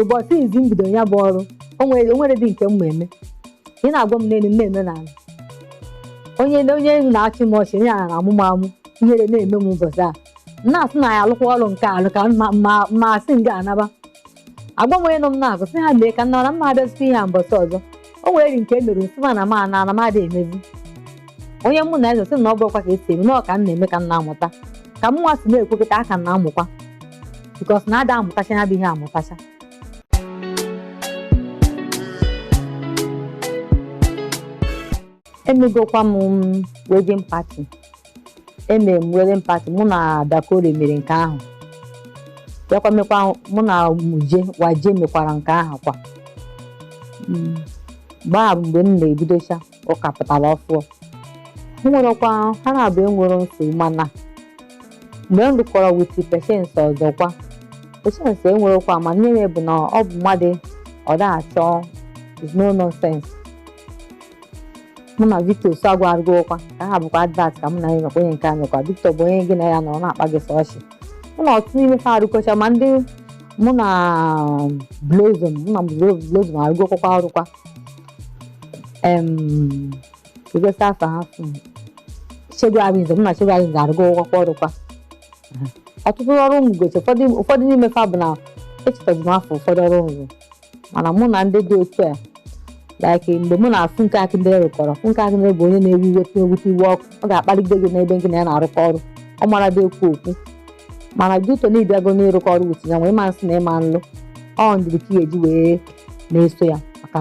ụbọchị izi m bidoro ya bụ ọrụ o nwere o nwere dị nke m ma eme ị na-agwa m n'elu m na-eme n'ala onye onye na-achị m ọchị onye na-amụ m amụ ihere na-eme m ụbọchị a m na-asị na ya alụkwa ọrụ nke alụ ka m ma- ma- ma asị m ga-anaba agwa m onye nọ m n'akụkụ sị ya mee ka m naa na m ma abịazikwa ihe a mbọsị ọzọ o nwere nke e mere m sị ma na ma na ana m adịghị emezi onye mụ na-eso sị na ọ bụrụkwa ka esi eme na ọ ka m na-eme ka m na-amụta ka mụnwa si na-ekwekọta aka m na-amụkwa because na a da-amụtacha ya bụ ihe amụtacha emegokwa m wedding party emere m wedding party mụ na Dakore mere nke ahụ bịakwa mekwa mụ na Waje mekwara nke ahụ kwa Mm. mgbe a bụ mgbe m na-ebidocha mụ ka pụtara ọfụụ o nwerọkwa ha naabọ enwerọ nsogbu mana mgbe m rụkọrọ with Patience Ozokwor Patience enwerọkwa mana ihe bụ na ọ bụ mmadụ ọ da-achọ is no nonsense mụ na Victor Osuagwu arụgokwa nke ahụ bụkwa advert ka mụ na ya nọkwa onye nke anyịkwa Victor bụ onye gị na ya nọ ọ na-akpa gị sọ ọchị mụ na ọtụtụ n'ime fa arụkọcha ma ndị mụ na Blossom mụ na Blossom arụgokwa ọrụkwa em igosi afọ ha fụ Segun Arinze mụ na Segun Arinze arụgokwa ọrụkwa ọtụtụ ọrụ m gosi ụfọdụ n'ime fa bụ na echetazi m afa ụfọdụ ọrụ m rụ mana mụ na ndị dị otu a like mgbe mụ na Funke Akindele rụkọrọ Funke Akindele bụ onye na-ewe iwe tinye ewute iwe ọkụ ọ ga-akpalite gị n'ebe gị na ya na-arụkọ ọrụ ọ mara dị ekwu okwu mana due to na ị bịago n'ịrụkọ ọrụ with ya nwee ịma nsị na ịma nlụ ọ ndidi ka ị ga-eji wee na-eso ya maka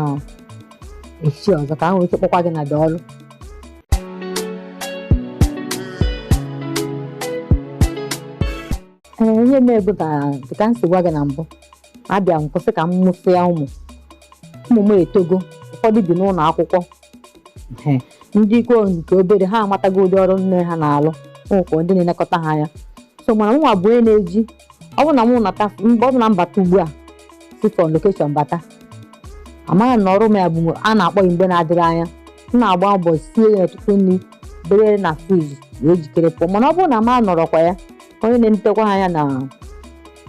echi ọzọ ka ha nwee ike kpọkwa gị n'ụdị ọrụ ee ihe na-ebu ka dịka m si gwa gị na mbụ abịa m kwụsị ka m mụsịa ụmụ ụmụ m etogo ụfọdụ bi n'ụlọ akwụkwọ Hmm. ndị nke obere ha amatago ụdị ọrụ nne ha na-alụ m nwekwa ndị na-elekọta ha anya so mana mụnwa bụ onye na-eji ọ bụ na mụ nata mgbe ọ bụ na m bata ugbu a si from location bata amaghị na ọrụ m ya bụ mgbe a na-akpọ ya mgbe na-adịghị anya m na-agba mbọ sie ya ọtụtụ nri debe na fridge wee jikere pụọ mana ọ bụrụ na m anọrọkwa ya onye na-enetakwa ha anya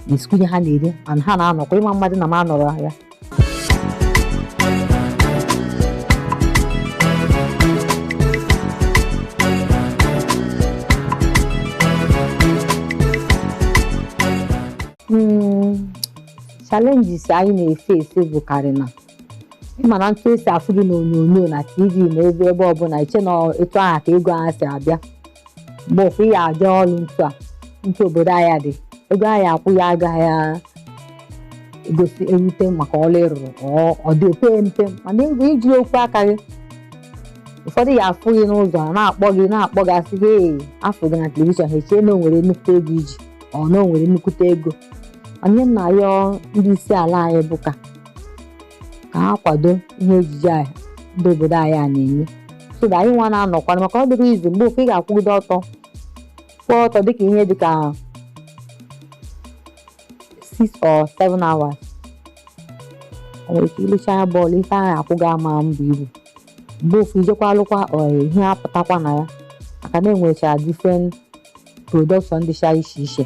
na-esikwu ihe ha na-eri mana ha na-anọkwa ịma mmadụ na m anọrọ ya Mm, challenges anyị na-efe efe bụkarị na ị ma na etu e si afụ gị n'onyonyo na tv na ebe ebe ọbụla i chee na etu ahụ ka ego ahụ si abịa mgbe ofu ya abịa ọrụ etu a etu obodo anyị a dị ego a ya akwụ gị agaghị egosi erute maka ọrụ ị rụrụ ọ dị ope mpe mana ego i ji akwụ aka gị ụfọdụ ya afụ gị n'ụzọ na-akpọ gị na-akpọ gị asị gị ee afụ gị na telivishọn ha echee na o nwere nnukwute ego i ji ọ na o nwere nnukwute ego ihe anyị na-ayọ ndị isi ala anyị bụ ka ka ha kwado ihe ejije a ndị obodo anyị a na-eme so that anyị nwa na-anọkwana maka ọ dịrọ easy mgbe ofu ị ga-akwụgide ọtọ kwụọ ọtọ dịka ihe dịka 6 or 7 hours o nwere ike i lechaa anya ọ bụlụ ife a ya akwụ gị ama ebu ibu mgbe ofu i jekwa alụkwa ọrụ a ihe apụtakwa na ya maka na enwecha different production dịcha iche iche